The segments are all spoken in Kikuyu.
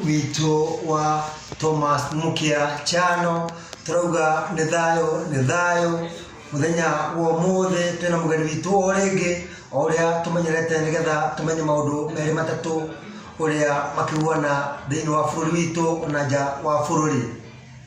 witũ wa Thomas Mũkĩa Chano tũrauga nĩ thayũ nĩ thayũ mũthenya wa ũmũthĩ twĩna mũgeni witũ o rĩngĩ o ũrĩa tũmenyerete nĩgetha tũmenye maũndũ merĩ matatũ ũrĩa makĩhuana thĩinĩ wa bũrũri witũ na nja wa bũrũri.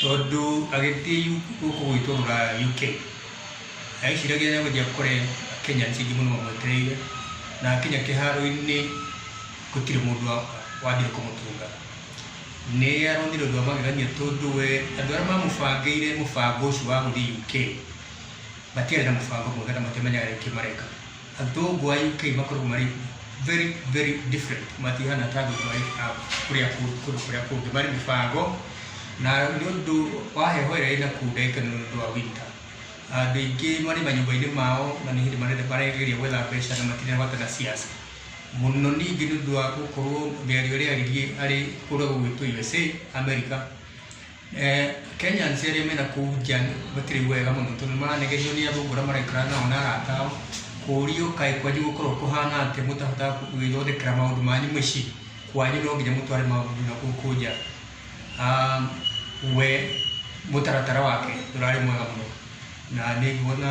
tondũ agĩthiĩ gũkũ gwitũ rũraya UK, eciragia nĩ egũthiĩ akore Akenya nĩ aingĩ mũno mamwetereire, na akinya kĩharo-inĩ gũtirĩ mũndũ wathire kũmũtũnga. Nĩ aronire ũndũ wa magegania tondũ we andũ arĩa mamũbangĩire mũbango ũcio wa gũthiĩ UK matiarĩ na mũbango mwega na matiamenyaga nĩkĩ mareka. Athũngũ a UK makoragwo marĩ very very different, matihana ta athũngũ a kũrĩa kũndũ kũrĩa kũngĩ, marĩ mĩbango na nĩ ũndũ wa heho ĩrĩa ĩna kũu ndagĩka nĩ ũndũ wa winter. Andũ aingĩ marĩ manyũmba-inĩ mao na nĩ hĩndĩ maregereria gwetha mbeca na matirĩ na bata na ciaca. Mũno ningĩ nĩ ũndũ wa gũkorwo mĩario ĩrĩa arĩ kũrĩa gwitũ USA, America. Kenyans arĩa me nakũu nja matirĩ wega mũno tondũ nĩ maranegehio nĩ athũngũ arĩa maraikara nao na arata ao. Kũũrio kaĩ kwanyu gũkoragwo kũhana atĩa mũtahotaga gwĩthondekera maũndũ manyu mĩciĩ? Kwanyu no nginya mũtware maũndũ na gũkũ nja. We mũtaratara wake ndũrarĩ mwega mũno na nĩ nguona...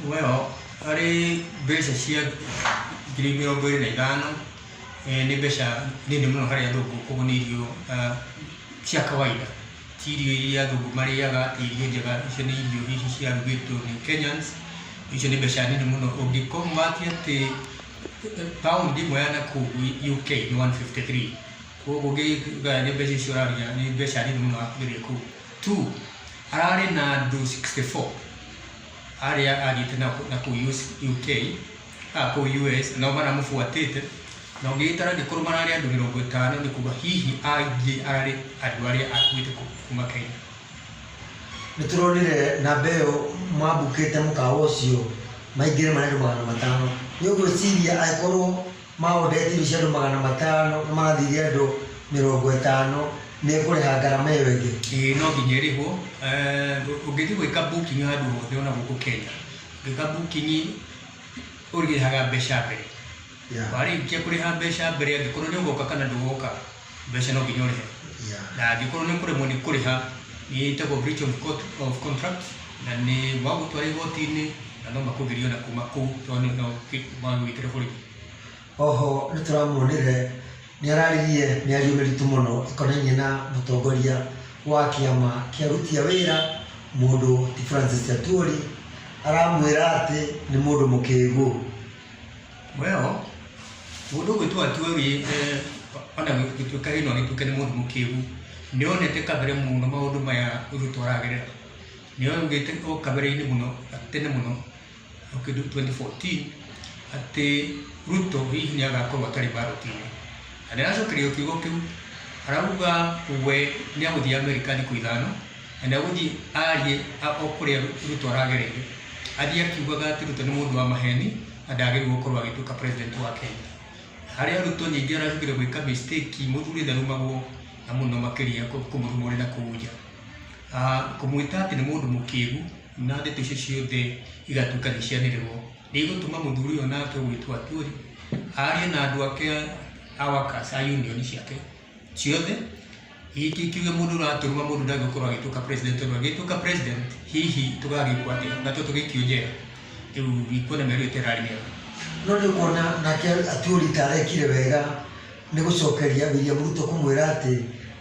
Nguo ĩyo harĩ mbeca cia ngiri mĩrongo ĩrĩ na ithano, nĩ mbeca nini mũno harĩ athũngũ koguo nĩ irio cia kawaida. Ti irio iria athũngũ marĩaga, ti irio njega, icio nĩ irio hihi ciarugĩtwo nĩ Kenyans, icio nĩ mbeca nini mũno. Ũngĩ convert atĩ pound ĩmwe ya nakũu UK nĩ one fifty three, koguo ũngĩgayania mbeca icio ũraruta nĩ mbeca nini mũno wakũgeria kũu. Two, hararĩ na andũ sixty four. arĩa athiĩte nao na kũu US UK a kũu US nao maramũbuatĩte na ũngĩgĩtara angĩkorwo mararĩ andũ mĩrongo ĩtano nĩ kuga hihi aingĩ ararĩ andũ arĩa akuĩte kũ- kuma Kenya nĩ tũronire namba ĩyo mwambukĩte mũkawa ũcio maingĩre marĩ andũ magana matano nĩ ũgwĩciria angĩkorwo ma ũndetiri cia andũ magana matano na magathithia andũ mĩrongo ĩtano nĩ ĩkũrĩha ngarama ĩyo ĩngĩ? Ĩĩ no nginya ĩrĩhwo. Ũngĩthiĩ gwĩka booking handũ hothe ona gũkũ Kenya, ũngĩka booking ũrĩhaga mbeca mbere. Warĩkia kũrĩha mbeca mbere angĩkorwo nĩ ũgoka kana ndũgoka. mbeca no nginya ũrĩhe na angĩkorwo nĩ kũremwo nĩ kũrĩha nĩ ĩtagwo breach of court of contract na nĩ wagũtwara igoti-inĩ na no makũgiria ona kuma kũu tondũ nĩ no magwĩkĩre borithi Oho nĩ tũramuonire nĩ araririe mĩario mĩritũ mũno ĩkonainie na mũtongoria wa kĩama kĩa aruti a wĩra mũndũ ti Francis Atwoli, aramwĩra atĩ nĩ mũndũ mũkĩgu. Well, mũndũ ũgwĩtwo Ajuari ona gũtuĩka hihi no agĩtuĩke nĩ mũndũ mũkĩgu, nĩ onete kabere mũno maũndũ maya Ruto aragerera. Nĩ augĩte o kabere-inĩ mũno tene mũno o kĩndũ twenty fourteen atĩ Ruto hihi nĩ agakorwo atarĩ mbarũti-inĩ. Na nĩ aracokereria kiugo kĩu arauga we nĩ agũthiĩ America thikũ ithano na nĩ agũthiĩ arie o kũrĩa Ruto aragereire. Athiĩ akiugaga atĩ Ruto nĩ mũndũ wa maheni. na ndagĩrĩirwo gũkorwo agĩtuĩka president wa Kenya. Harĩ arutwo nyingĩ aracukire gwĩka mistake, mũthuri ndarumagwo na mũno makĩria kũmũruma ũrĩ na kũu nja. Ah, kũmwĩta atĩ nĩ mũndũ mũkĩgu na ndeto icio ciothe igatuĩka nĩ cianĩrĩrwo nĩ igũtũma mũthuri ũyũ nake ũgwĩtwo Atwoli arie na andũ ake a workers a union ciake ciothe, hihi ti kiuge mũndũ ũratũruma mũndũ ndangĩkorwo agĩtuĩka president tondũ angĩtuĩka president hihi tũgagĩkwo atĩa na to tũgĩikio njera rĩu ikuona mĩario ĩyo ta ĩrarĩ mĩega no nĩ kuona nake atuori ta arekire wega nĩ gũcokeria William Ruto kũmwĩra atĩ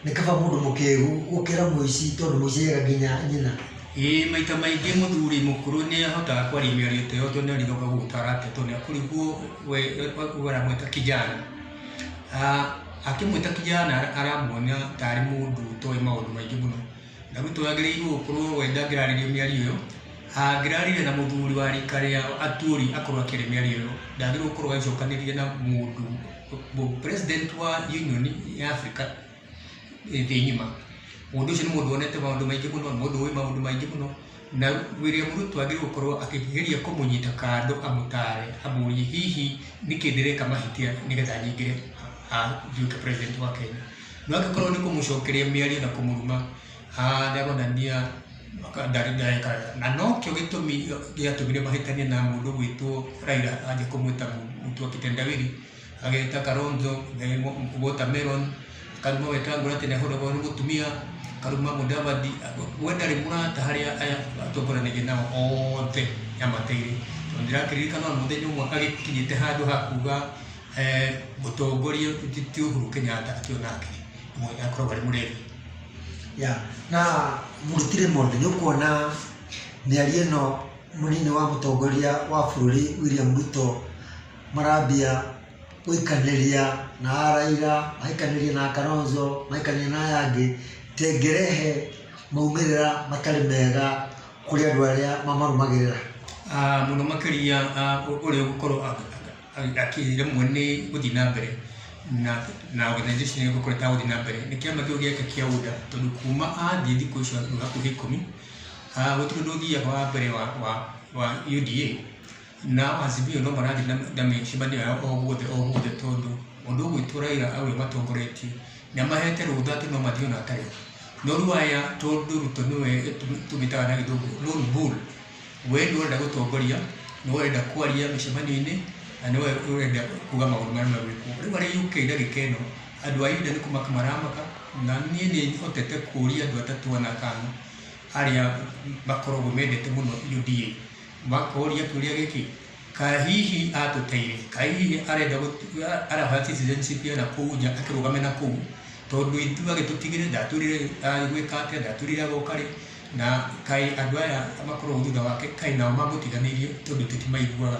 nĩ kaba mũndũ mũkĩgu gũkĩra mũici tondũ mũici ega nginya nyina ĩĩ maita maingĩ mũthuri mũkũrũ nĩ ahotaga kwaria mĩario ta ĩyo tondũ nĩ arĩthoka gũgũtara atĩ tondũ nĩ akũriguo we we- we aramwĩta kijana Akĩmwĩta kijana aramuonia ta arĩ mũndũ ũtoĩ maũndũ maingĩ mũno. Ndarutwo agĩrĩirwo gũkorwo we ndangĩrarĩrĩria mĩario ĩyo, angĩrarĩrĩria na mũthuri wa rika rĩa Atuoli akorwo akĩaria mĩario ĩyo, ndagĩrĩirwo gũkorwo agĩcokanĩria na mũndũ, president wa union ya Africa. thĩ ng'ima. Mũndũ ũcio nĩ mũndũ wonete maũndũ maingĩ mũno, nĩ mũndũ ũĩ maũndũ maingĩ mũno, na William Ruto agĩrĩirwo gũkorwo akĩgeria kũmũnyita kando amũtare, amũrie hihi nĩkĩ ndĩreka mahĩtia nĩgetha nyingĩre nduĩke president wa Kenya. No angĩkorwo nĩ kũmũcokeria mĩario na kũmũruma, haa nĩ aronania ndarĩ ndareka wega. Na nokĩo gĩtũmi gĩatũmire mahĩtanie na mũndũ ũgwĩtwo Raila anja kũmwĩta mũtwe wa kitendawili. ageta Kalonzo eh, wa- watermelon karuma wetangura ati nehorogwo ni mutumia karuma mudavadi we ndari murata haria aya atongoranige nao othe amateire tondu ndirakiririkana ona muthenya umwe agikinyite handu hakuga eh, mutongoria ti- ti uhuru kenyatta ati onake mwe- akoragwo ari murevi ya na mũrutire mũndũ nĩ ũkuona mĩario ĩno mũnini wa mũtongoria wa bũrũri william ruto marambia gũikanĩria na Raila, magaikanĩria na Kalonzo, magaikanĩria na aya angĩ, ta ĩngĩrehe maumĩrĩra matarĩ mega kũrĩ andũ arĩa mamarũmagĩrĩra. Ah, mũno makĩria ah, ũ- ũrĩa ũgũkorwo a- a- akĩremwo nĩ gũthiĩ na mbere na na organization ĩyo gũkorwo ĩtagũthiĩ na mbere nĩ kĩama kĩu gĩake kĩa UDA tondũ kuma athiĩ thikũ icio hakuhĩ ikũmi ah, gũtirĩ ũndũ ũthiaga wa mbere wa wa wa UDA Na Azimio no marathiĩ na, na mĩcemanio yao o guothe o guothe tondũ ũndũ ũmwe witũ Raila aũrĩa matongoretie, nĩ amahete rũtha atĩ no mathiĩ ona hatarĩ. No rĩu aya tondũ Ruto nĩwe tũmĩtaga na gĩthũngũ lone bull, we nĩwe ũrenda gũtongoria, nĩwe ũrenda kwaria mĩcemanio-inĩ, na nĩwe ũrenda kuga maũndũ marĩa megwĩkwo. Rĩu arĩ UK ndagĩka ĩno, andũ a India nĩ kũmaka maramaka, na niĩ nĩ hotete kũria andũ atatũ ana kana arĩa makoragwo mendete mũno UDA. Makoria kĩũria gĩkĩ, Kaĩ hihi atũteire? Kaĩ hihi arenda gũtu- a- arahoya citizenship ya nakũu nja akĩrũgame nakũu tondũ ithuĩ agĩtũtigire ndatwĩrire agĩgwĩka atĩa ndatwĩrire agoka rĩ na kaĩ andũ aya makoragwo thutha wake kaĩ nao mamũtiganĩirie tondũ ithuĩ timaiguaga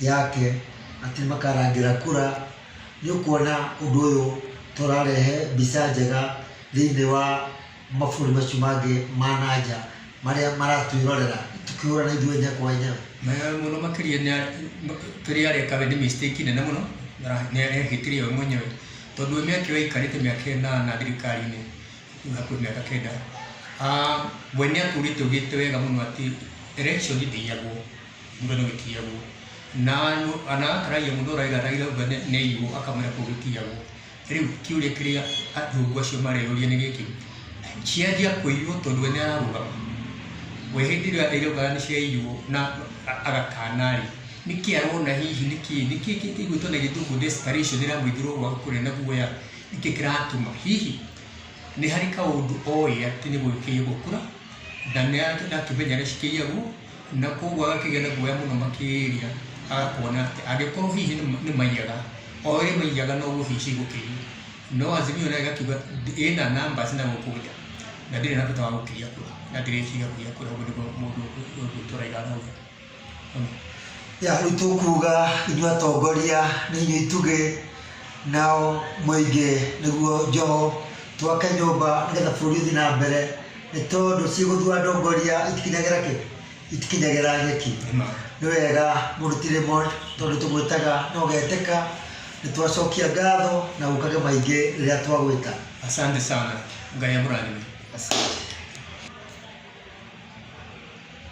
yake atĩ makarangĩra kura, nĩ ũkuona ũndũ ũyũ ta ũrarehe mbica njega thĩinĩ wa mabũrũri macio mangĩ ma na nja marĩa maratwĩrorera tũkĩhũrana ithuĩ enyewe kwa enyewe. Mũno makĩria kĩrĩa areka we nĩ mistake nene mũno na arehĩtĩria we mwenyewe tondũ we mĩaka ĩyo aikarĩte mĩaka ĩnana thirikari-inĩ rĩu hakuhĩ mĩaka kenda, we nĩ atũrĩte augĩte wega mũno atĩ election ndĩiyagwo. Muda no gĩtiagwo. Na no ana ataragia mũndũ ũraiga raiga uga nĩ nĩ aiywo akamwĩra kũu gĩtiagwo. Rĩu kĩũria kĩrĩa athũngũ acio mareyũria nĩ gĩkĩ. Cianjia kũiywo tondũ we nĩ ararũgama. We hĩndĩ ĩrĩa athire uga nĩ ciaiywo na a- agakana rĩ, nĩ kĩ arona hihi nĩ kĩ nĩ kĩ kĩ kĩgwĩtwo na gĩthũngũ desperation ĩramũithũra ũguo kũrĩa na guoya nĩ kĩ kĩratũma hihi nĩ harĩ kaũndũ oĩ atĩ nĩ gũgĩkĩiyo gũkura na nĩ arakĩmenya nĩ cikĩiyagwo Na kwoguo agakĩgĩa na guoya mũno makĩria, agakuona atĩ angĩkorwo hihi nĩ maiyaga, o ũrĩa maiyaga noguo hihi cigũkĩiya. No Azimio nayo ĩgakiuga ĩna numbers na gũkũ nja, na ndĩrĩ na bata wa gũkĩiya kura, na ndĩrĩ ĩkĩiya kura. Ũguo nĩguo mũndũ ũyũ tũraiga arauga. Ya rĩu tũkuga inyuĩ atongoria nĩ inyuĩ itugĩ, nao mũingĩ nĩguo njoho. Twake nyũmba nĩgetha bũrũri ũthiĩ na mbere, Nĩ tondũ cigũthua ndongoria itikinyagĩra kĩ? Itikinyagĩra nyeki. Nĩ wega mũndũ ti rĩmwe tondũ tũgwĩtaga na ũgetĩka. Nĩ twacokia ngatho na ũkage maingĩ rĩrĩa twagwĩta. Asante sana. Ngai amũrathime.